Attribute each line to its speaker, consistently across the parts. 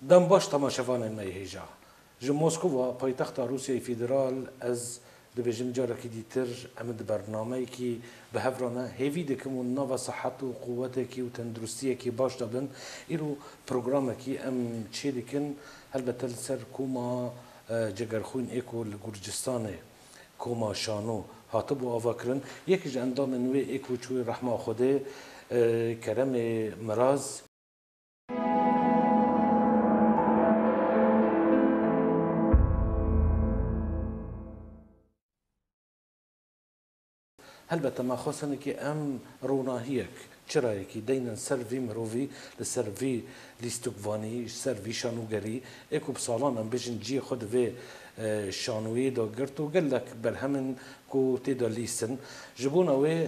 Speaker 1: Dem baş temaşevanên me yê hêja. Ji Moskova, paytexta Rûsyayê Federal, ez dibêjim carekî dîtir em di bernameyekî bi hev re ne, hêvî dikim û nava sihet û quwetekî û tenduristiyekî baş de bin. Îro programekî em çê dikin, helbete li ser koma Cegerxwîn ê ku li Gurcistanê, koma Şano, hatibû avakirin. Yekî ji endamên wê ê ku çûye rehma Xwedê, Keremê Miraz, Helbete ma xwest hene ke em ronahiyek, çirayekî deynin ser vî mirovî li ser vî lîstikvanî, ji ser vî şanogerî ê ku bi salan em bijîn ciyê xwe di vê şanoyê de girt û gelek berhemên ku tê de lîstin ji bona wê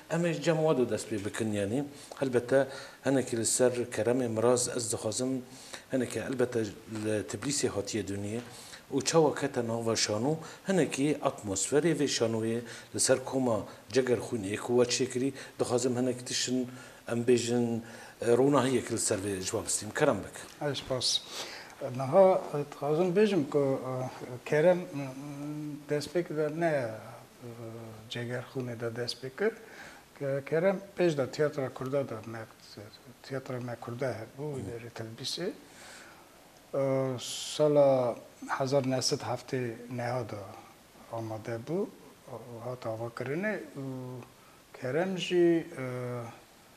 Speaker 1: Em ê ji cem Wado dest pê bikin yanî helbete hinekî li ser keremê miraz ez dixwazim hinekî helbete li Tiblîsê hatiye dûniyê û çawa kete nava şano hinekî atmosferê vê şanoyê li ser koma Ceger Xwîn ê ku we çêkirî dixwazim hinek tiştin em bêjin ronahiyek li ser vê ji we bistîm. Kerem bik. Ay spas.
Speaker 2: Niha dixwazim bêjim ku kerem destpêk de ne Cegerxûnê de dest pê kir. Kerem pêş de tiyatra kurda de me tiyatra me kurda hebû wî derê Tilbîsê. Sala hezar neh sed heftê neha de amade bû, hat avakirinê û Kerem jî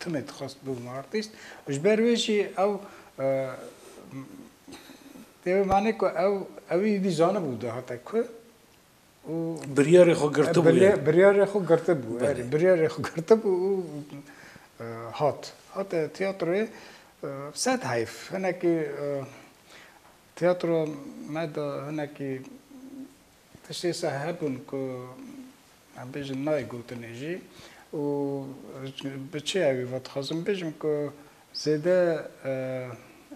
Speaker 2: Tune dixwest bibim artîst û ji ber wê jî ew dê wê manê ku ew ewî êdî zanibû dahate ku û
Speaker 1: biryarê xwe girtibû biryarê xwe girtibû
Speaker 2: biryarê xwe girtibû û hat hate tiyatroyê sed heyf hinekî tiyatro me de hinekî Tiştê seh hebûn ku em bêjin nayê gotinê jî û bi çi ew ê ve dixwazim bêjim ku zêde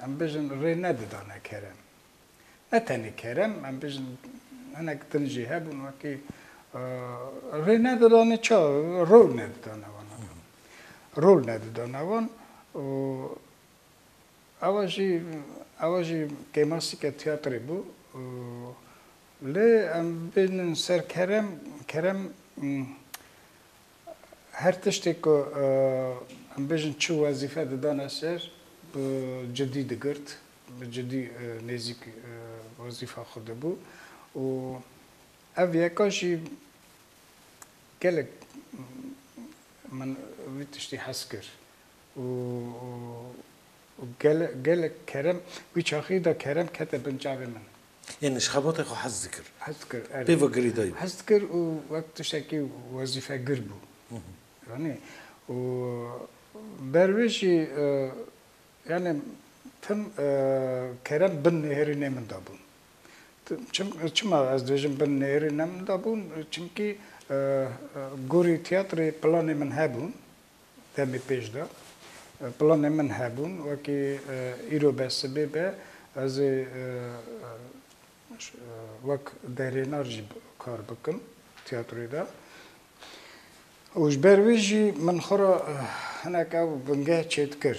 Speaker 2: em bêjin rê nedidane kerem. Ne tenê kerem em bêjin hinek din jî hebûn wekî rê nedidane ça rol nedidane wan. Rol nedidane wan û Ava jî ava jî kêmasîke tîyatrê bû. Lê em bêjnin ser kerem, kerem her tiştê ku em bêjin çi wezîfe didane ser bi cidî digirt, bi cidî nêzîk wezîfa xwe dibû û ev yeka jî gelek min vî tiştî hez kir. û gelek kerem wî çaxî da kerem kete bin çavê min. Yanî ji xebatê
Speaker 1: xwe hez dikir. Hez dikir erê. Pê ve
Speaker 2: girêdayî bû. Hez
Speaker 1: dikir û
Speaker 2: wek tiştekî wezîfegir bû. Yanî û ber wê jî yanî tim kerem bin nêrî nê min da bûn. Çima ez dibêjim bin nêrî ne min da bûn? Çimkî gorî tîyatrê planê min hebûn. Demê pêş de planên min hebûn wekî îro be sibê be ez ê wek derênar jî kar bikim tîyatroyê de û ji ber wî jî min xwe re hinek ew bingeh çêdikir.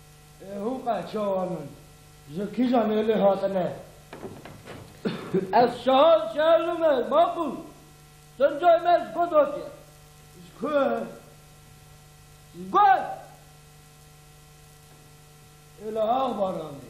Speaker 2: Hûn qeh çawan in ji kîjan êlê hatine? Ez
Speaker 3: şahan şerlû me maqûl sincayê me ji kod hatiye. Ji ku? Ji gol!
Speaker 2: Êla ax baranê.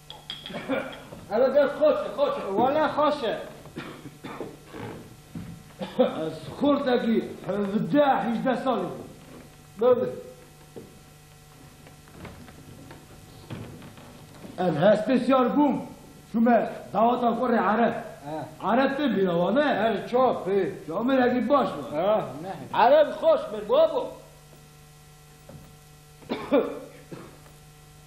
Speaker 3: Ev dest xweş e, xweş e. Wele xweş e.
Speaker 2: Ez xortekî hevdeh hîjdeh salî bûm. Bibê. Ez hestê siyar bûm. Çûme daweta xwe rê ereb. Ereb tê bîra wan e? Erê çap ê.
Speaker 3: Camêrekî baş be.
Speaker 2: Ereb
Speaker 3: xweş be babo.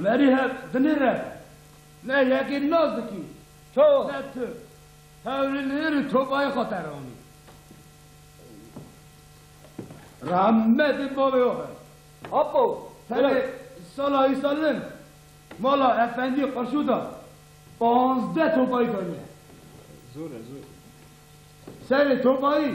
Speaker 2: Merî hev dinê re ne yekê nas dikî to ne tu hewlî li îrî tobayê xwe te ronî. Rahmetê bavê xwe be. Apo,
Speaker 3: serê
Speaker 2: sala îsalin mala efendî qurşû da panzdeh tobayî daniye. Zor e,
Speaker 4: zor.
Speaker 2: Serê tobayî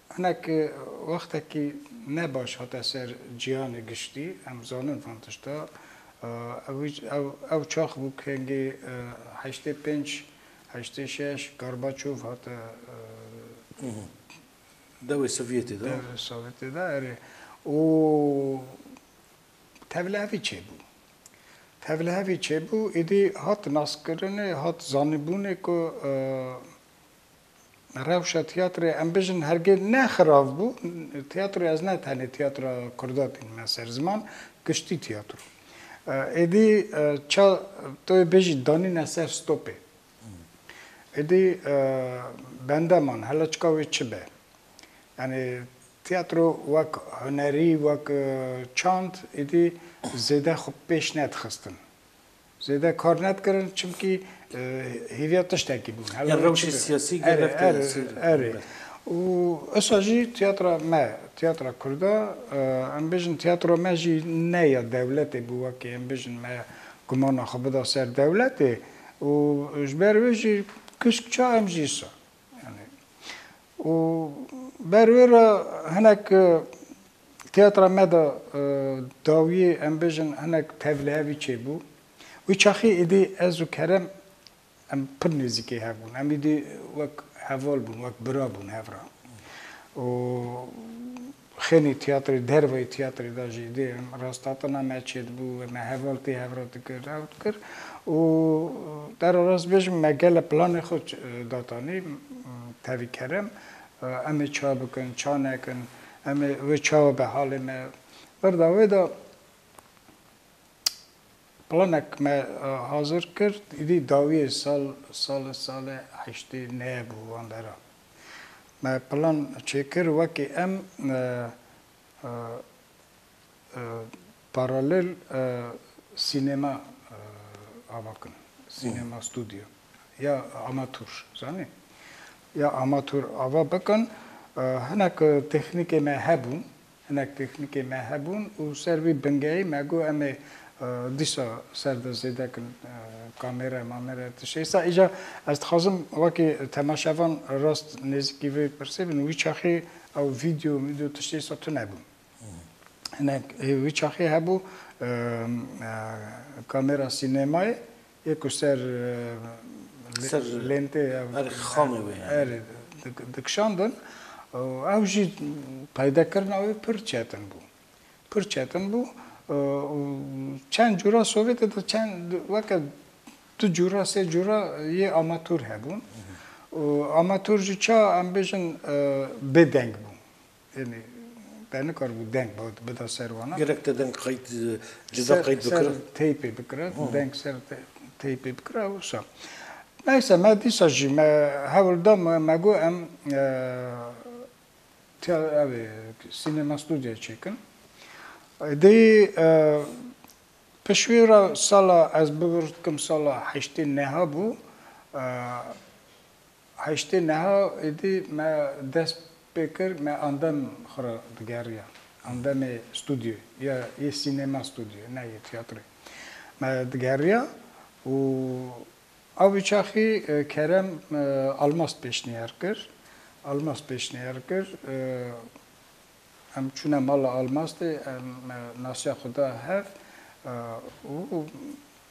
Speaker 2: Hinek wextekî ne baş hate ser cîhanê giştî, em zanin van tişta. Ew çax bû kengê heştê pênc, heştê şeş Gorbaçov hate
Speaker 1: dewê Sovyetê de. Dewê Sovyetê de
Speaker 2: erê. Û tevlihevî çêbû. Tevlihevî çêbû, êdî hat naskirinê, hat zanîbûnê ku Rewşa tiyatroya em bijin hergê ne xirav bû. Tiyatroya ez ne tenê tiyatra kurda tînime ser ziman, giştî tiyatro. Êdî ça to yê bijî danîne ser stopê. Êdî bende man hela çika wê çi be. Yanî tiyatro wek hunerî, wek çand êdî zêde xwe pêş nedixistin. Zêde kar nedikirin çimkî hêviya tiştekî bûn. Ya rewşê siyasî
Speaker 1: gelek tesîr. Erê. Û
Speaker 2: esa jî tiyatra me, tiyatra kurda em bijin tiyatra me jî ne ya dewletê bû wekî em bijin me gumana xwe bida ser dewletê û ji ber wê jî kusk ça em jî sa. Û ber wê re hinek tiyatra me de dawiyê em bêjin hinek tevlihevî çêbû. Wî çaxê êdî ez û Kerem em pir nêzîkê hev bûn. Em êdî wek heval bûn, wek bira bûn hev re. Û Xênî tiyatrê derveyî tiyatrê de jî dê rastatina me çêdibû û me heval tê hev re dikir ew dikir û dera rast bêjim me gele planê xwe datanî tevî kerem em ê ça bikin ça nekin em ê wê çawa be halê me berda wê de planek me hazir kir îdî dawiyê sal sale sale heştê neyê bû wan deran. Me plan çêkir wekî em paralel sînema ava kin, sînema studyo ya amatûr zanî. Ya amatûr ava bikin. Hinek tehnîkê me hebûn Hinek pêxnîkê me hebûn û ser vî bingeyî me got em ê dîsa ser de zêde kin kamêre mamêre ti şeysa. Îja ez dixwazim wekî temaşevan rast nêzîkî vê pirsê bin wî çaxê ew vîdyo mîdyo ti şeysa tune bû. Hinek wî çaxê hebû kamêra sînemayê. Yê ku ser lentê
Speaker 1: erê dikişandin
Speaker 2: û ew jî peydekirina wê pir çetin bû. Pir çetin bû û çend cûra Sovyetê de çend weke du cûra sê cûra yê amatûr hebûn û amatûr jî ça em bêjin bêdeng bû. Yanî te nikaribû deng bida ser wan. Gelek te deng qeyd
Speaker 1: cuda qeyd bikira? Ser teypê bikira,
Speaker 2: deng ser teypê bikira û wisa. Neyse me dîsa jî me hewl da me got em evê sînema studyoyê çêkin. Êdî pişwî re sala ez bivirdikim sala heştên neha bû Heştê niha êdî me dest pê kir me andem xwe re digeriya. Andemê studyoyê ya yê sînema studyoyê ne yê tiyatroyê me digeriya û ew bi çaxî Kerem Almaz pêşniyar kir. Almaz pêşniyar kir em çûne mala Almaz de em nasiya xwe da hev û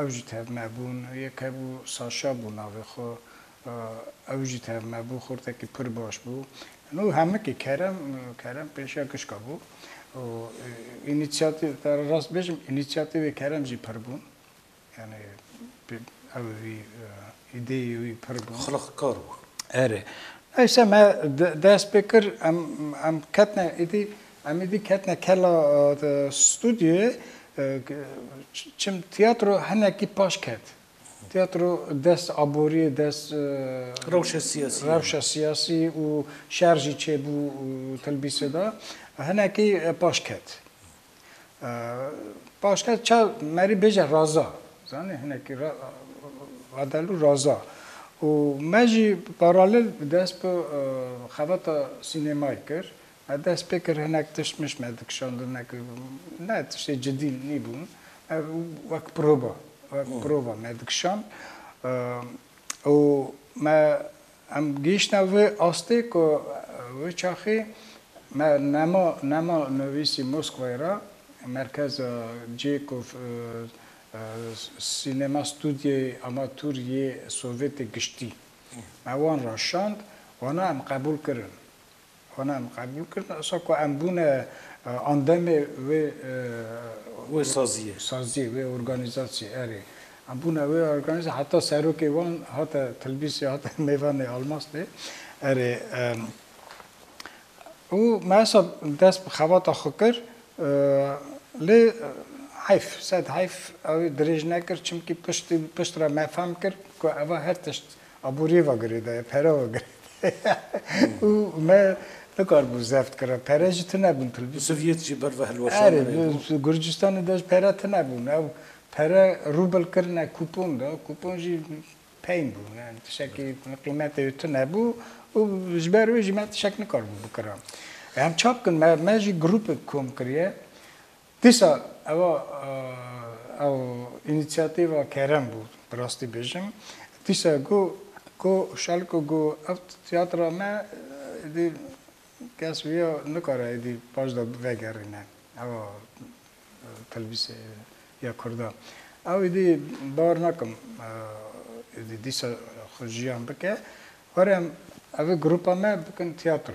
Speaker 2: Ew jî tevnebûn. Yek hebû Saşa bû navê xwe. Ew jî tevnebû. Xortekî pir baş bû. Nû hemikî Kerem, Kerem pêşiya gişka bû û înîsiyatîv, te re rast bêjim înîsiyatîvê Kerem jî pir bûn. Yanî ew wî îdeyê wî pir bûn. Xiliqkar bûn.
Speaker 1: Erê.
Speaker 2: Neyse me dest pê kir, em ketine êdî Em ê vî ketine kela studyoyê çim tiyatro hinekî paş ket. Tiyatro dest aboriyê, dest rewşa siyasiyê rewşa siyasî û şer jî çêbû tilbîsê de hinekî paş ket. Paş ket ça merî bêje raza zanî hinekî radel û raza û me jî paralel dest bi xebata sînemayê kir. Me dest pê kir hinek tişt mişt me dikişandin ne ku ne tiştê cidî nîbûn ev wek proba wek prova me dikişand û me em gihîştine vê astê ku wê çaxê me nema nema nivîsî Moskwayê re merkeza cihê ku sînema stûdyeyê amatûr yê Sovyetê giştî me wan re şand wana em qebûl kirin Xwena em qebûl kirin, esa ku em bûne endamê
Speaker 1: wê saziyê,
Speaker 2: wê organîzasyê, erê, em bûne wê organîzasyê, heta serokê wan hate Tilbîsê, hate mêvanê Almastê, erê, û me esa dest bi xebata xwe kir, lê heyf, sed heyf, ew ê dirêj nekir, çimkî piştî, piştre me fehm kir ku eva her tişt Aboriyê ve girêdaye, pere ve girêdaye û me nikaribû zeft kira. Pere jî tune bûn tilvîzyon. Bi Sovyet jî ber ve hilweşan
Speaker 1: Erê, bi hevbûn.
Speaker 2: Gurcistanê de jî pere tune bûn. Ew pere rûbl kirine kûpon de, kûpon jî peyn bû. Yani tişekî qîmetê wê tune bû û ji ber wê jî me tişek nikaribû bikirin. Em çap kirin, me jî grûpek kom kiriye. Dîsa eva ew înîsiyatîva kerem bû bi rastî bêjim. Dîsa got ku Şalko got ev tiyatra me êdî kes wiya nikare êdî paş de vegerîne eva telvîzya kurda. Ew êdî bawer nakim êdî dîsa xwe jiyan bike. Were em ev ê grupa me bikin tiyatro.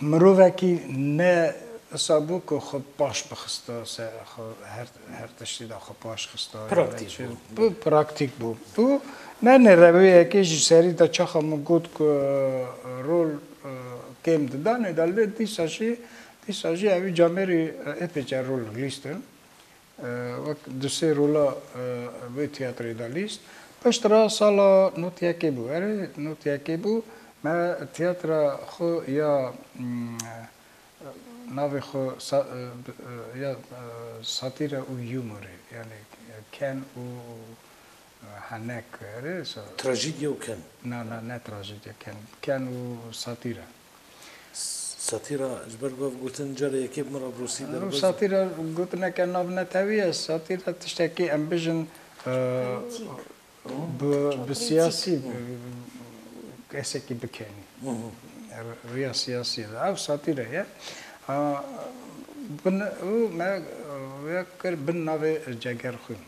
Speaker 2: Mirovekî ne wisa bû ku xwe paş bixista ser xwe her her tiştî de xwe paş xista Praktîk bû. bû praktîk bû. Bû nane rewiyekê ji serî de çaxa min got ku rol kêm didanê de lê dîsa jî dîsa jî ew î camêrî epêca rol lîstin. Wek du sê rola vê tiyatroyê de lîst. Piştre sala not yekê bû. Erê not yekê bû. Me tiyatra xwe ya navê xwe ya satîre û humorê yanî ken û henek erê.
Speaker 1: Trajîdye û ken. Na na ne trajîdye
Speaker 2: ken. Ken û satîre.
Speaker 1: Satîra ji ber bav gotin cara yekê bi min re bi rûsî derbas bû. Satîra
Speaker 2: gotineke navnetewî ye. Satîra tiştekî em bijin bi siyasî kesekî bikenî riya siyasî re ev satîra ye. Û me ya kir bin navê Cegerxwîn.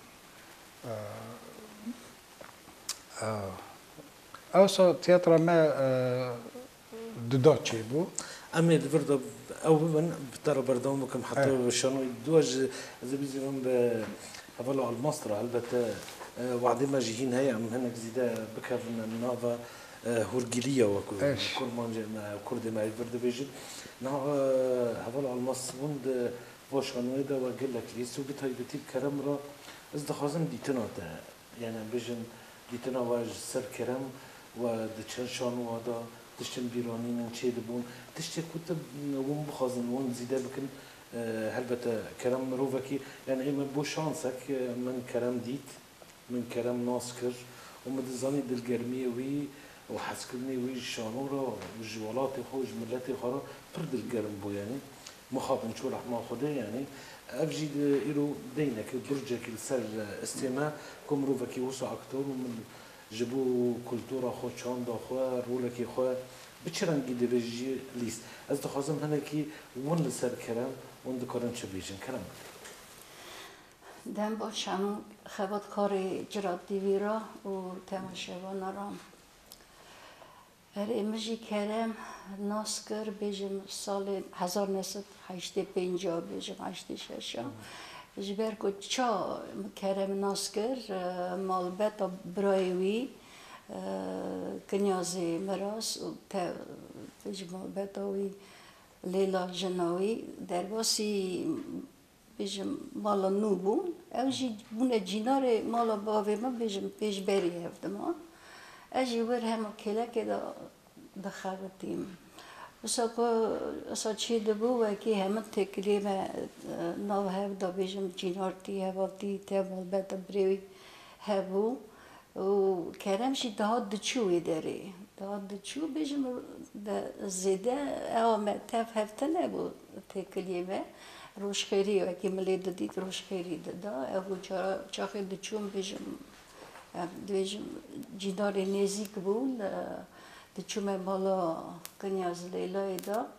Speaker 2: Ewsa tiyatra me duda çêbû. Em ê li vir
Speaker 1: de ew bibin, bi te re berdewam bikim heta bi şanoyê duwa ji ez ê bicivim bi hevala Almaz re helbete wexdê me jî hîn heye em hinek zîde bikevin nava hûrgiliya wek ku kurmancên me kurdê me li vir dibêjin. Niha heval Almaz bûn di va şanoyê de wek gelek lês û bi taybetî bi kerem re ez dixwazim dîtina te Yan em bêjin dîtina we ji ser kerem we di çend şanuwa de tiştên bîranînin çê dibûn. Tiştê ku tu wan bixwazin wan zîde bikin helbete kerem mirovekî yan ê me bo şansek min kerem dît, min kerem nas kir û min dizanî dilgermiyê wî û hezkirinê wî ji şano re û ji welatê xwe û ji miletê xwe re pir dilgerm bû. Yanî Mixabin çû rehma Xwedê yanî ev jî îro deynekî burcekî li ser istê me ku mirovekî wisa aktor û min ji bo kultura xwe, çanda xwe, rolekê xwe bi çi rengî divê jî lîst. Ez dixwazim hinekî win li ser kerem wan dikarin çi bêjin. Kerem bike.
Speaker 5: Dem baş hemû xebatkarê Cira TV ra û temaşevanan ra. Erê min jî kerem nas kir bêjim salê hezar neh sed heştê pênc a bêjim heştê şeş a ji ber ku ça min kerem nas kir malbeta birayê wî Kinyazê Miras û te te jî malbeta wî Lêla jina wî derbasî Bêjim mala nû bû. Ew jî bûne cînarê mala bavê min bêjim pêşberî hev dima. Ez jî wir hema kêlekê de dixebitîm. Wisa ku wisa çê dibû wekî hemin têkiliyê me nav hev da bêjim cînar tî, heval tî, tevmalbet e birêwî hebû. Û kerem jî dihat diçû wê derê. Dihat diçû bêjim zêde ewa me tev hev tune bû têkiliyê me rojxêrî wekî min lê didît rojxêrî dida. Ew bû cara çaxê diçûm bêjim dibêjim cîndarê nêzîk bûn diçûme mala Kinyaz Leylayê de.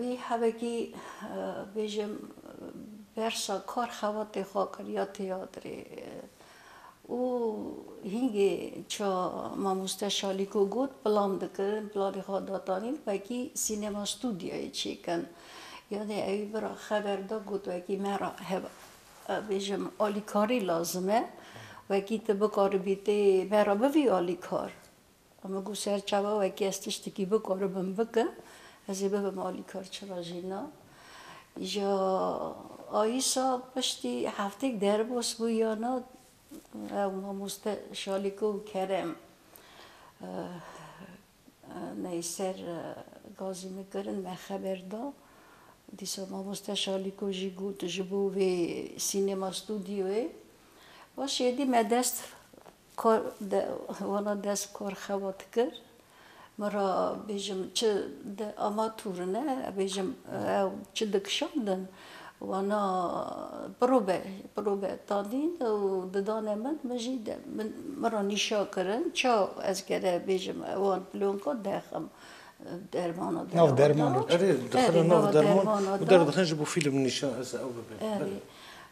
Speaker 5: Wî hevekî bêjim bersa kar xebatê xwe kir ya têyatrê û hîngê ça mamoste Şalîko got pilan dikin, pilanê xwe datanîn wekî sînema stûdyayê çêkin. Yanê ewî bira xeber da got wekî me re hev bêjim alîkarî lazim e, wekî ti bikaribî tê me re bivî alîkar. Xwe me got ser çawa wekî ez tiştekî bikaribim bikim, ez ê bibim alîkar çira jî na. Îja Ayisa piştî hefteyek derbas bû ya na, ew mamoste Şalîko û Kerem neyê ser gazî min kirin, me xeber da. Dîsa mamoste Şalîko jî got ji bo vê sînema studyoyê. Baş êdî me dest Kor de wana dest kor xewa dikir. Min ra bêjim çi di ama tûrine bêjim ew çi dikişandin wana pirobe pirobe tadîn û didane min min jî de min ra nîşa kirin ça ez gere bêjim wan pilonka dexim dermana de nav derman ra erê dixine nav
Speaker 2: dermana
Speaker 1: de derdixin ji bo fîlm nîşan ez ew bibin erê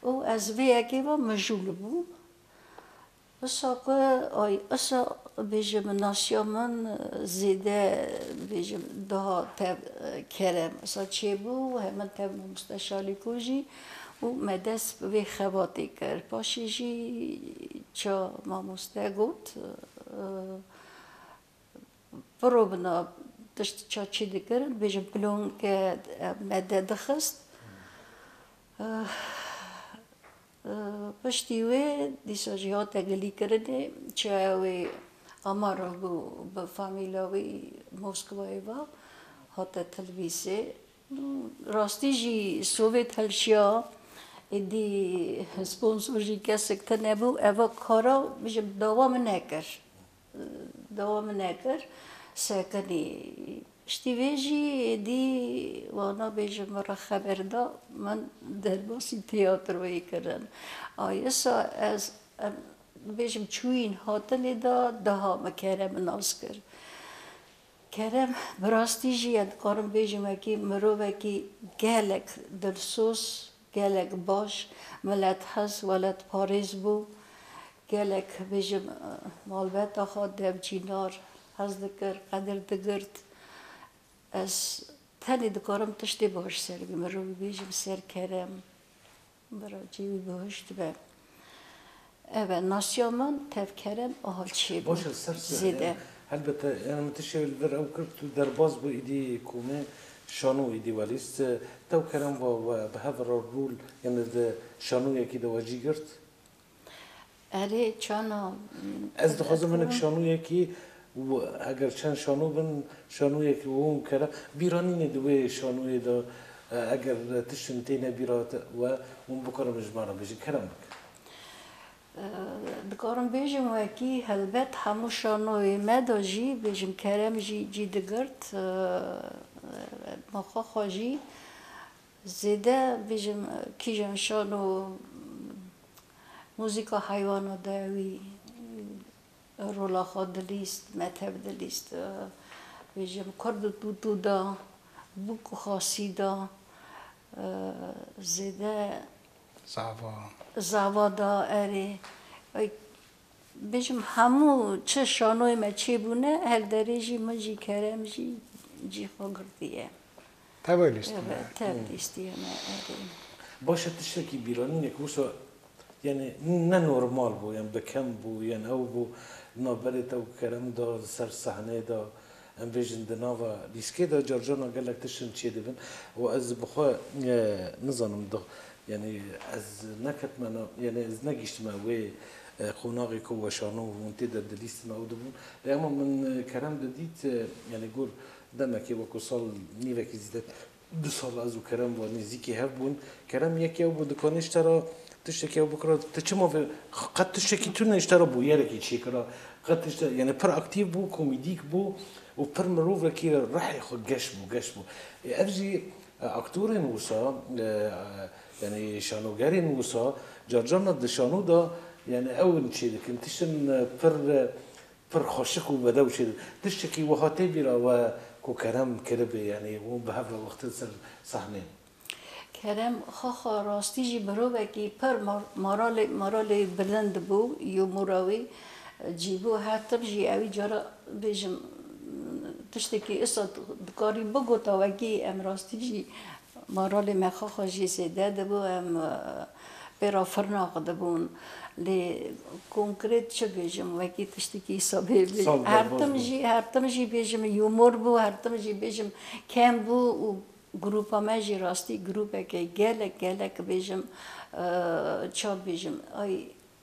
Speaker 1: û ez
Speaker 5: vê yekê ve mijûl bûm. Qisa ku ay qisa bêje bi nasiya min zêde bêjim daha tev kere qisa çêbû û hemin tev Mamoste Şalîko jî û me dest bi vê xebatê kir. Paşê jî ça mamoste got biro bina tişt ça çê dikirin dibêjin pilonke me de dixist. Piştî wê dîsa jî hate gilîkirinê çaya wê Amar re ku bi famîla wî Moskwayê ve hate tilvîsê. Rastî jî Sovêt hilşiya, êdî sponsor jî kesik tune bû, ev kara bijim dewam nekir. Dewam nekir sekinî. Piştî vê jî êdî wana bêjin min re xeber da, min derbasî tîyatroyê kirin. A yisa ez em bêjim çûyîn hatinê da, diha min Kerem nas kir. Kerem bi rastî jî ya dikarim bêjim wekî mirovekî gelek dilsoz, Gelek baş, milethes, weletparêz bû. Gelek bi ji malbata xwe dev Çînar hez dikir, qedir digirt. Ez tenê dikarim tiştê baş ser bibêjim, ser kerem. Biracî wî bihuşt be. Ev e nasiya min tevkerem aha çê bû zêde. Helbet yan
Speaker 1: min ti şevê li vir ew kir tu derbas bû êdî komê şano êdî welîst tewkerem va we bi hev re rûl yan li di şanoyekî de we jî girt.
Speaker 5: Erê çana. Ez dixwazim
Speaker 1: hinek şanoyekî Û eger çend şano bin, şanoyek wûn kera, bîra nîne di wê şanoyê de eger tiştin têne bîra te we, wûn bikarin bi jiman re bêjin, kerem bike.
Speaker 5: Dikarin bêjin wekî, helbet hemû şanoyê me de jî bêjin kerem jî cî digirt, ma xwe xwe jî zêde bêjin kîjan şano muzîka heywana de wî Rola xwe dilîst, metheb dilîst. Bêjim kurd û tûtû de bûk û xasî de zêde. Zava. Zava de erê. Bêjim hemû çi şanoyê me çêbûne her derê jî min jî kerem jî cî xwe girtiye. Tevwe
Speaker 2: lîstîne.
Speaker 5: Tev lîstîne erê. Baş e
Speaker 1: tiştekî bîranîne ku wisa yanî ne normal bû yan bi kem bû yan ew bû li nav berê te û kerem de li ser sehneyê de em bêjin di nava lîskê de carcana gelek tiştin çêdibin û ez bi xwe nizanim di yanî ez neketime nav yanî ez negihîştime wê qonaxê ku weşano hûn tê de di lîstina ew de bûn lê hema min kerem de dît yanî got Demekê wekû sal nîvekî zîde du sal ez û Kerem wa nêzîkî hev bûn. Kerem yek yew bû dikanê ji te ra tiştekî hev bikira. Ti çima vê qet tiştekî tune ji te ra bûyerekî çêkira. Qet tişte yanî pir aktîv bû, komîdîk bû û pir mirovekî rihê xwe geş bû, geş bû. Ê ev jî aktorên wisa yanî şanogerên wisa carcaran di şano de yanî ew in çêdikin tiştin pir Pir xweşik û bedew şêr. Tiştekî wiha tê bîra we ku Kerem kiribê yanî wan bi hev re wextin ser sahnê? Kerem,
Speaker 5: Xwe xwe rastî jî mirovekî pir moralê moralê bilind bû yo mora wî cî bû her tim jî ewî cara bêjim tiştekî issa dikarî bigota wekî em rastî jî moralê me xwe xwe jî zêde dibû em Pêra firna xwe dibûn. Lê konkret çi bêjim wekî tiştekî sobê bê. Her tim jî her tim jî bêjim humor bû, her tim jî bêjim kem bû û grûpa me jî rastî grûpeke gelek gelek bêjim ça bêjim ay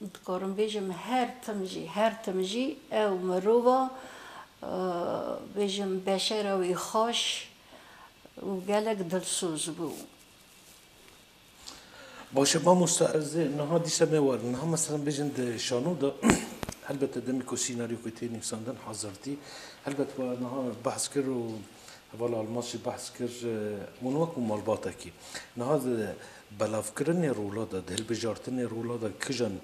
Speaker 5: Dikarim bêjim her tim jî, her tim jî ew mirova bêjim beşera wî xweş û gelek dilsoz bû.
Speaker 1: Baş e mamosta ez ê niha dîsa newerim. Niha meselan bêjin di şano de helbete demê ku sînaryokê tê nivîsandin hazirtî. Helbet niha behs kir û Heval Almaz jî behs kir wan wek ku malbatekî niha di belavkirinê rola de, di hilbijartinê rola de kijan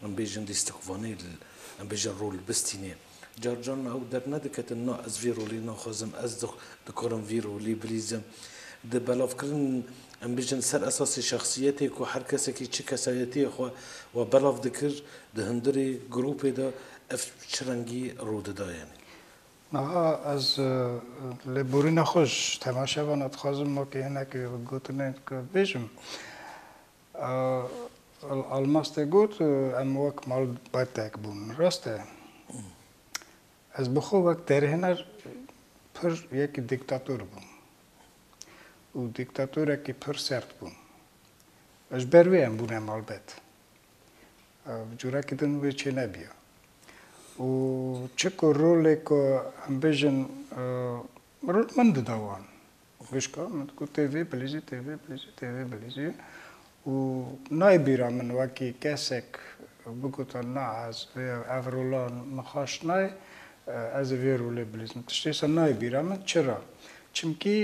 Speaker 1: em bêjin dîstikvanê li em bêjin rol bistînê. Car caran ew dernediketin na ez vî rolê naxwazim, ez dikarim vî rolê bilîzim. Di belavkirin em bêjin ser esasê şexsiyetê ku her kesekî çi kesayetiyê xwe we belav dikir di hundirê grûpê de ev çi rengî rû dida yanî. Niha
Speaker 2: ez lêborîna xwe ji temaşevana dixwazim wekî hinekî gotinên ku bêjim. Almaz tê got em wek malbatek bûn. Rast e. Ez bi xwe wek derhêner pir yekî dîktator bûm. Û dîktatorekî pir sert bûm. Ji ber wê em bûne malbet. Bi corekî din wê çênebiya. Û çi ku rolê ku em bêjin rol min dida wan. Xwişka min digot tê vê bilîjî, tê vê bilîjî, tê vê bilîjî. Û nayê bîra min wekî kesek bigota na ez vê ev rola min xweş nayê, ez ê vê rolê bilîjim. Tiştê wisa nayê bîra min. Çira? Çimkî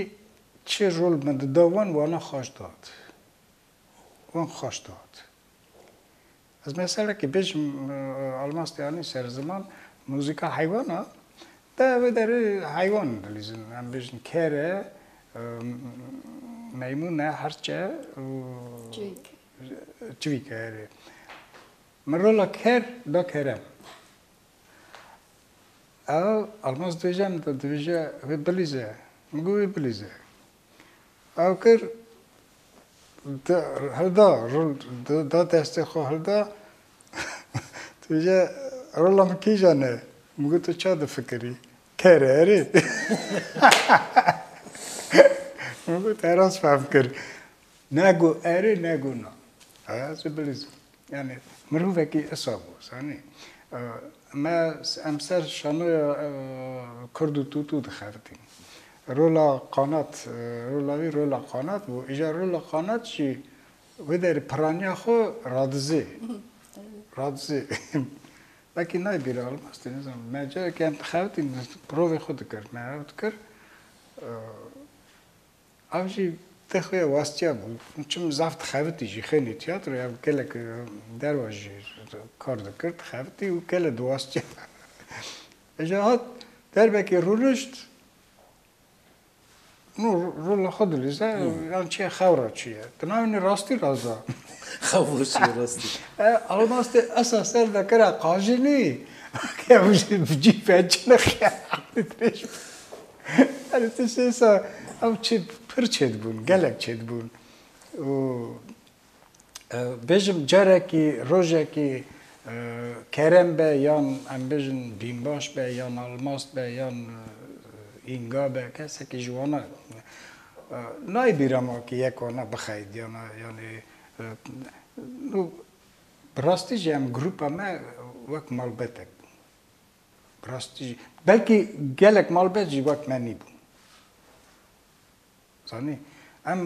Speaker 2: çi rol min dida wan, wana xweş dat. hûn xweş dihat. Ez meselekê bijim, Elmas Diyanî ser ziman muzîka heywan a, de ev ê derê heywan dilîzin, em bijin ker e, meymûn e, hirç e û çivîk e erê. Min rola ker da kerem. Ew Elmas dibêje em dibêje wê bilîze. Min got wê bilîze. Awkir da hilda rol da destê xwe hilda tu jî rola min kîja ne? Min got tu ça difikirî? Ker e erê? Min got erast fehm kir. Ne got erê ne got na. Aya zê bilîzin. Yanî mirovekî isa bû zanî me em ser şanoya kurd û tûtû dixertîn. Rola qanat, rola wî rola qanat bû. Îja rola qanat jî wê derê piraniya xwe radizê. Radizê. Belkî nayê bîra Elmas tê nizanim. Me carekî em dixertîn provê xwe dikir. Me ew dikir Ev jî tê xwe ya wastiya bû. Çim zaf dixebitî jî xênî tîyatroya ew gelek derwa jî kar dikir, dixebitî û gelê diwastiya. Îja hat derbekê rûnişt nû rola xwe dilîze yan çiya xewra çi ye. Di navê nê rastî raza. Xewra çi
Speaker 1: ye rastî. E almastê
Speaker 2: esa ser de kira qajînî. Ke ew jî bi cî pençe nixiya dirêj. Erê tu şêsa ew çê pir çêdibûn, gelek çêdibûn û bêjim carekî rojekî Kerem be yan em bêjin Bînbaş be yan Almaz be yan Înga be kesekî ji wan nayê bîra ma kî yek wana bixeyidiyana yanî bi rastî jî em grûpa me wek malbetek bûn. Bi rastî jî belkî gelek malbet jî wek me nîbûn. Zanî em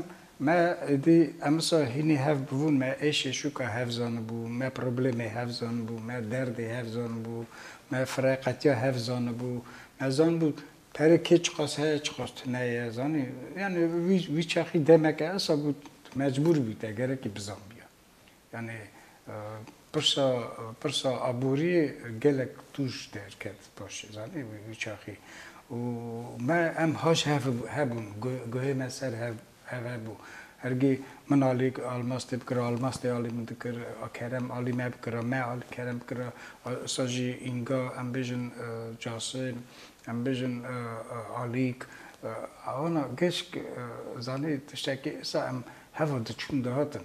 Speaker 2: me êdî em wisa hînî hev bûn, me êşê şûka hev zanibû, me problemê hev zanibû, me derdê hev zanibû, me fireqetiya hev zanibû, me zanibû pere kê çiqas heye çiqas tune ye zanî. Yanî wî wî çaxî demeke wisa bû mecbûr bû te gerekî bizanbîya. Yanî pirsa pirsa aboriyê gelek tûj derket paşê zanî wî wî çaxî û me em haş hev hebûn guhê me ser hev hev hebû hergî min alî almas tê bikira almas tê alî min dikir a kerem alî me bikira me alî kerem bikira îsa jî înga em bêjin casim em bêjin alîk wana geşk zanî tiştekî îsa em heva diçûn dihatin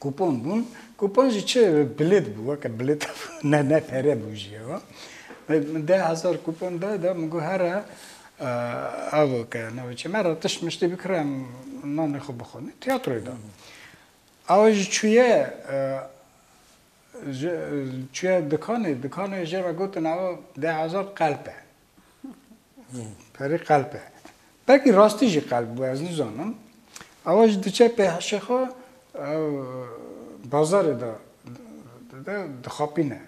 Speaker 2: Kupon bûn. Kupon jî çi bilêt bû, weke bilêt ne ne pere bû jî ew. Min deh hezar kupon da da min got here ev ke navê çi me re tişt miştî bikire em nanê xwe bixwin. Tîyatroyê de. Awe jî çûye çûye dikanê, dikanê jê re gotin ew deh hezar qelp e. Perê qelp e. Belkî rastî jî qelp bû ez nizanim. Awa jî diçe pê hişê xwe ew bazarê de dide dixapîne.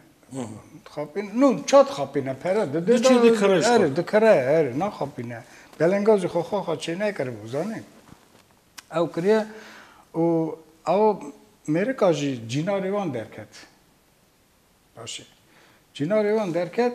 Speaker 2: Dixapîne. No ça dixapîne pere dide. Diçe dikire jî.
Speaker 1: Erê dikire erê
Speaker 2: naxapîne. Belenga jî xwe xwe xwe çêneyê kiribû zanî. Ew kiriye û awa mêrika jî cînarê wan derket. Başê. Cînarê wan derket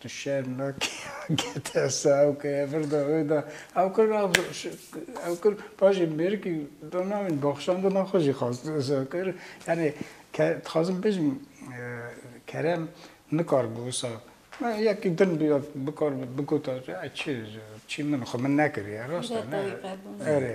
Speaker 2: Tu şerm nakî gete saw ke vir de wê de ew kir ew ew kir paşê mêrikî do navin baxşan do naxwe jî xwest wisa kir yanî ke dixwazim bijim kerem nikar bû wisa me yekî din bû ya bikar bû bigota çi çi min xwe min nekiriye rast e ne erê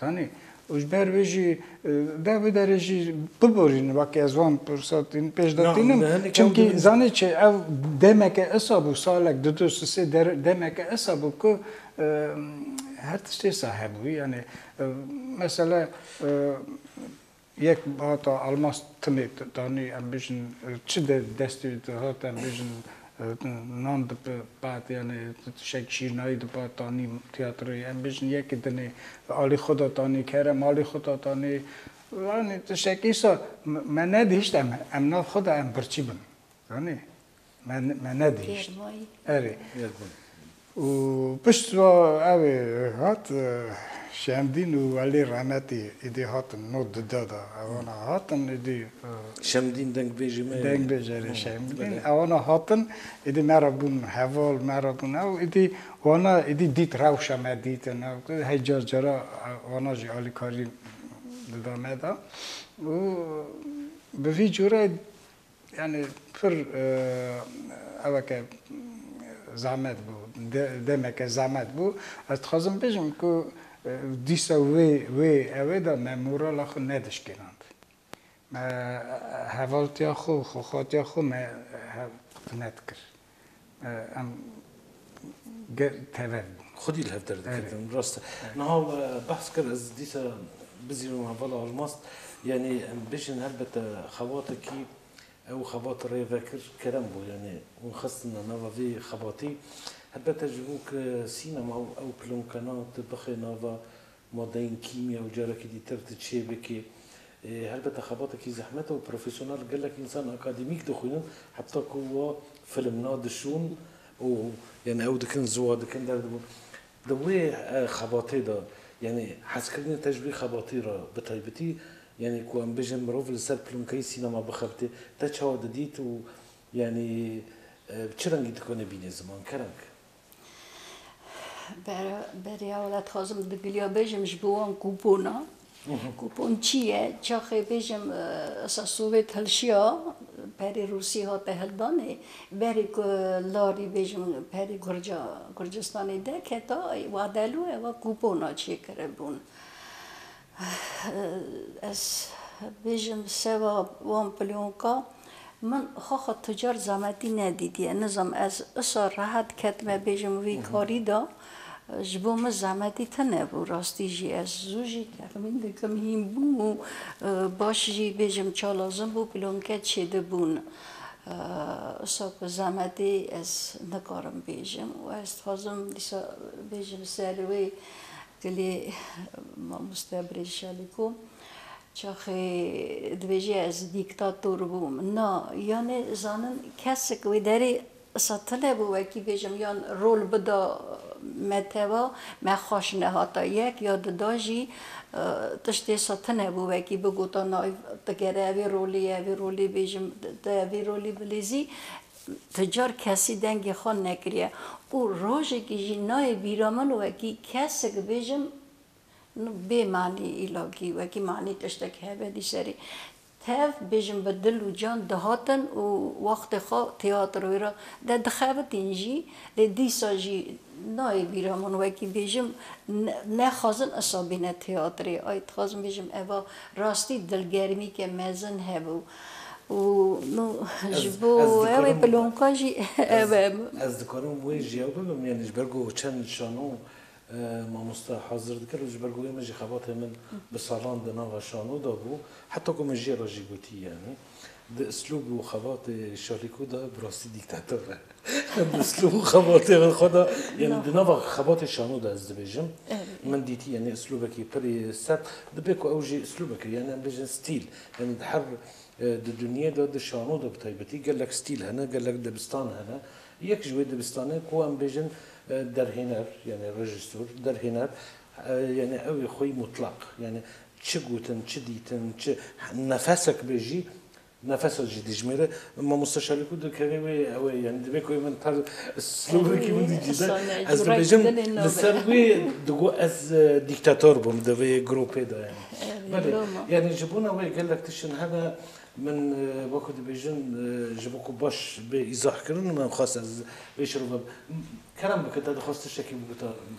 Speaker 2: Zanî û ji ber vê jî deh bi derê jî biborîn wekî ez wan pirsa tîn pêş de tînim. Çimkî zanî çi ev demeke esa bû salek du du sisê demeke esa bû ku her tiştê sa hebû. Yanê mesela Yek hata Elmas timê danî em bijin çi de destê wî dihat em bijin nan dipat yanî tişek şîrnayî dipat danî tîyatroyê em bijin yekî dinê alî xwe de danî kere malî xwe de danî yanî tişek îsa me nedihişt em em nav xwe de em birçî bin zanî. Me nedihîşt. Erê. Û pişt re ew ê hat Şemdîn û Welî Remetî êdî hatin no dide de. Ewana hatin êdî. Şemdîn
Speaker 1: dengbêjê me ye. Dengbêjê erê
Speaker 2: Şemdîn. Ewana hatin êdî me re bûn heval, me re bûn ew. Êdî wana êdî dît rewşa me dîtin ew. Hey car cara wana jî alîkarî dida me de. Û bi vî cure Yanî pir eweke zehmet bû, demeke zehmet bû. Ez dixwazim bêjim ku dîsa wê wê ewê de me morala xwe nedişkînand. Me hevaltiya xwe û xwexwatiya xwe me hev nedikir. em tev xwedî li hev derdikevin
Speaker 1: rast e. Niha we behs kir ez dîsa bizîrim hevala Almaz yanî em bêjin helbete xebatekî ew xebat rêvekir kerem bû yanî hûn xistina nava vê xebatî helbete ji bo ku sînema û ew pilonkena tu bixê nava Madeyên kîmya û carekî dî tev tu çê bikî. Helbete xebatekî zehmet e û profesyonel gelek însan akademîk dixwînin heta ku wa film na dişûn û yanî ew dikin ziwa dikin derdibûn. Di wê xebatê de yanî hezkirinê te ji wî xebatê re bi taybetî yanî ku em bijin mirov li ser plûnkeyê sînema bixebitê te çawa didît û yanî bi çi rengî dikonê bînê ziman kerem ke.
Speaker 5: Beriya wela dixwazim di giliya bêjim ji bo wan kûpona. Kûpon çi ye? Çaxê bêjim esa Sowêt hilşiya, perê Rûsî hate hildanê. Berê ku larî bêjim perê Gurca Gurcistanê derketa, wa delû ewa kûpona çêkiribûn. Ez bêjim seba wan plonka min xaxa tucar zametî nedîtiye. Nizam ez usa rehet ketime bêjim vî karî de ji bo min zametî tune bû. Rastî jî ez zû jî texmîn dikim hîn bû û baş jî bêjim çalazim bû plonke çê de bûn. Usa ku zametê ez nikarim bêjim û ez dixwazim dîsa bêjim ser wê Gelê mamoste Birêz Şaliko çaxê dibêje ez dîktator bûm. Na, yanê zanin kesik wê derê setile bû wekî bêjim yan rol bida me teva me xweş nehata yek ya di da jî tiştê setine bû wekî bigota na ev digere evê rolê ye evê rolê bêjim te evê rolê bilêzî Ti car kesî dengê xwe nekiriye û rojekî jî nayê bîra min wekî kesik bêjim bê manî îlagî wekî manî tiştek hebe dî serî tev bêjim bi dil û can dihatin û wextê xwe têatro wê re de dixebitîn jî lê dîsa jî nayê bîra min wekî bêjim nexwazin isa bîne têatrê ay dixwazim bêjim eva rastî dilgermîke mezin hebû. û ji bo wê pilonka jî ev e. Ez
Speaker 1: dikarim wê ji yew bibim yanî ji ber ku çend şano mamoste hazir dikir û ji ber ku wê min jî xebatê min bi salan di nava şano de bû heta ku min jê re jî gotî yanî di islûb û xebatê Şalîko de bi rastî dîktator e. Em îslûb û xebatê li xwe de yanî di nava xebatê şano de ez dibêjim min dîtî yanî îslûbekî pirî sert dibe ku ew jî îslûbekê yanî em bêjin stîl yanî di her di dinyê de di şano de bi taybetî gelek stîl hene gelek dibistan hene yek ji wê dibistanê ku em bêjin derhêner yanî rejîsor derhêner yanî ew ê xweyî mutlaq yanî çi gotin çi dîtin çi nefesek be jî Nefeso jî dijmêre. Mamoste Şalîko dikeve wê ew e yanî divê ku min per slogekî min dî cîde. Ez dibêjim li ser wê digo ez dîktator bûm di vê gropê de yanî. Belê yanî ji bona wê gelek tiştin hene min wekî dibêjin ji bo ku baş bê îzahkirin min xwest ez vê şirove kerem bike te dixwest tiştekî biguta min.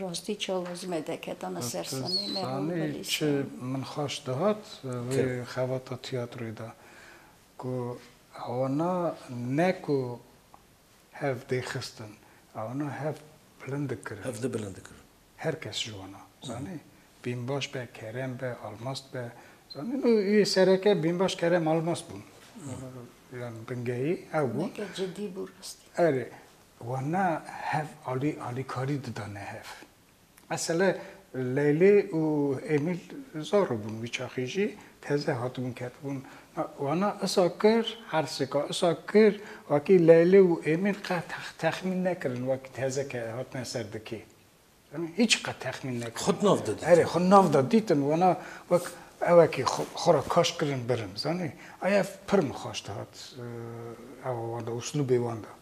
Speaker 5: Rastî çawa zî me deketa me ser sanî me wan belî sanî. Sanî
Speaker 2: min xweş dihat wê xevata tîyatroyê de ku ewna ne ku hev dê xistin ewna hev bilind dikirin. Hev di bilind dikirin.
Speaker 1: Her kes ji wan
Speaker 2: a zanî Bînbaş be, Kerem be, Almast be zanî nû yê sereke Bînbaş, Kerem, Almast bûn. Yan bingehî ew bûn. Neke cidî bû rastî.
Speaker 5: Erê
Speaker 2: Wan na hev alî alîkarî didane hev. Mesele Leylê û Emîl zaro bûn wî çaxê jî teze hatibûn ketibûn. Wan na isa kir ersêka isa kir wekî Leylê û Emîl qet texmîn nekirin wekî teze ke hatine ser dikê. Em hiç qet texmîn nekirin. Xwe di nav de dîtin. Erê, xwe di
Speaker 1: nav de dîtin,
Speaker 2: wena wek ewekî xwe ra kaş kirin birin, zanî. Ay ev pir min xweş dihat ewa wan de, uslûbê wan de,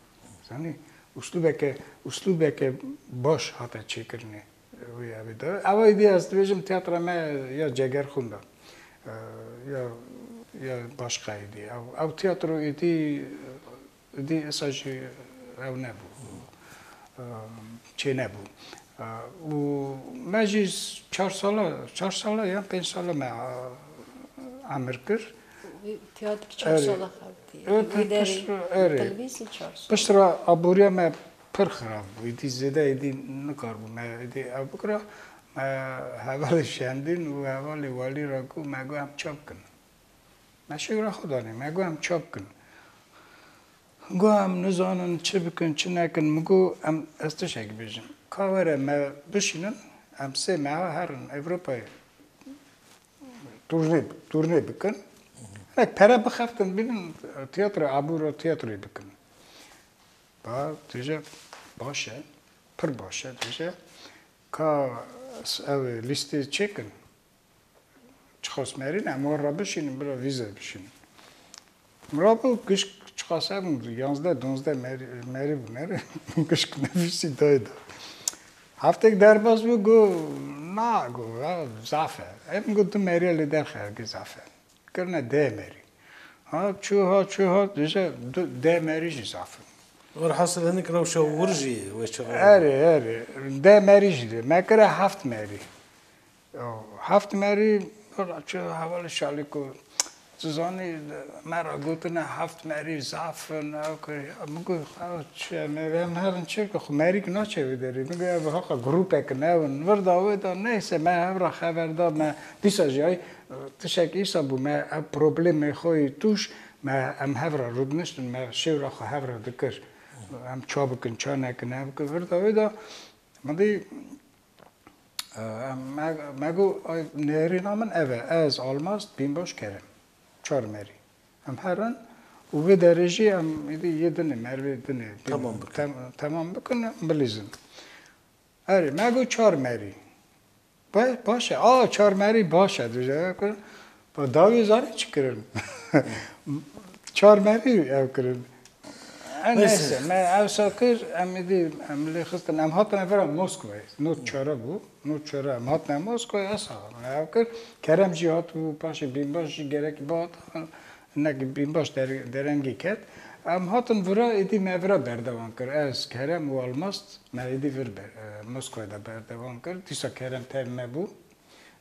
Speaker 2: zanî. Uslûbeke, uslûbeke baş hate çêkirinê wê evê de. Ewa êdî ez dibêjim tiyatra me ya Cegerxûn de ya ya başqa êdî. Ew ew tiyatro êdî Dî êsa jî ew nebû, çênebû. Û me jî çar sala, çar sala yan pênc sala me
Speaker 5: emir
Speaker 2: kir. Tiya dik çar
Speaker 5: sala
Speaker 2: xebitî.
Speaker 5: Pişt re aboriya
Speaker 2: me pir xirab bû. Êdî zêde êdî nikarbû me êdî ev bikira. Me hevalê şandîn û hevalê walî re got me got em çi bikin. Me şigra xwe danê, me got em ça bikin. Got em nizanin çi bikin, çi nekin. Min got em ez tiştekî bêjim. Ka were me bişînin, em sê meha herin Ewropayê turnê turnê bikin. Hinek pere bixeftin bînin tiyatro abûro tiyatroyê bikin. Ba dije baş e, pir baş e dije. Ka ew lîstê çêkin. Çiqas merîn em war re bişînin bila vî zer bişînin. Mirabû gişk çiqas hebûn du, yanzdeh, donzdeh merî, merî bû ne re gişk nefîsî dayê de. Heftek derbas bû got na got ya zaf e. Em got du merîya li derxe hergîz zaf e. Kirine deh merî. Ha çû ha çû ha dije du deh merî jî zaf in. Werhasil hinek
Speaker 1: rewşa wir jî weşiva. Erê erê
Speaker 2: deh merî jî dê. Me kire heft merî. Heft merî çi hevalê şalî ku tu zanî me re gotine heft merî zaf in ew kirî min got xewa çi ye me em herin çi bikin xwe merî ki naçe vê derê min got ev heqa grûpek in ew in li vir da wê da neyse me hev re xever da me dîsa jî ay tişek îsa bû me ev problemê xwe yê tûş me em hev re rûdiniştin me şêwra xwe hev re dikir em ça bikin ça nekin ev kir vir da wê da min dî Me got nêrîna min ev e, ez Almaz Bînbaş Kerem çar merî em her in û vê derê jî em êdî yê din ê merivê din ê temam bikin bilîzin. Erê me got çar merî baş e, a çar merî baş e dije Pa dawiyê zanî çi kirin? Çar merî ew kirin. Her neyse me ewsa kir em êdî em lê xistin em hatine vera Moskvayê. Not çare bû. Not çare em hatine Moskvayê esa me ew kir. Kerem jî hatibû paşê Bînbaş jî gerekî bihat hinekî Bînbaş derengî ket. Em hatin vira êdî me vira berdevan kir. Ez, Kerem û Almast me êdî vir Moskvayê de berdevan kir. Dîsa Kerem tevî me bû.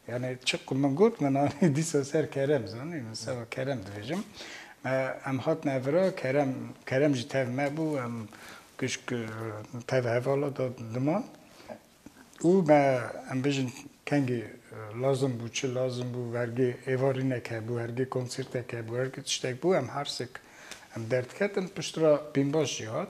Speaker 2: Yanî çi ku min got min anî dîsa ser kerem zanî min seba kerem dibêjim. Me em hatin evira kerem kerem jî tev me bû em kişk tev hevala da diman. Û me em bijin kengî lazim bû çi lazim bû vergê êvarînek hebû hergê konsîrtek hebû hergê tiştek bû em hersik em derdiketin piştre bînbaş jî hat.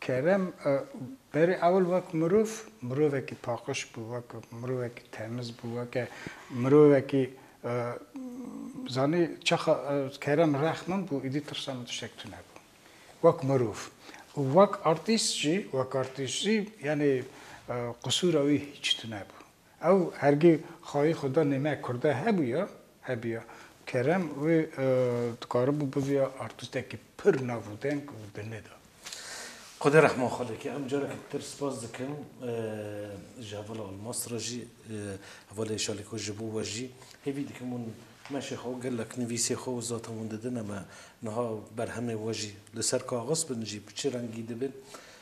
Speaker 2: Kerem berê ewil wek mirov, mirovekî paqij bû, wek mirovekî temiz bû, weke mirovekî zanî çaxa Kerem rex min bû, îdî tirsa min tiştek tune bû. Wek mirov. Û wek artîst jî, wek artîst jî yanî qisûra wî hîç tune bû. Ew hergî xayî xwe da nê me Kurda hebûya, hebûya kerem wê dikaribû bivîya artîstekî pir nav û deng û di nê da. Xwedê
Speaker 1: rehma xwe lê ke. Em carekî ditir spas dikim ji hevala Almas re jî, hevalê Şalîko ji bo we jî. Hêvî dikim hûn meşê xwe û gelek nivîsê xwe û zatên hûn didine me. Niha berhemê we jî li ser kaxiz bin jî bi çi rengî dibe?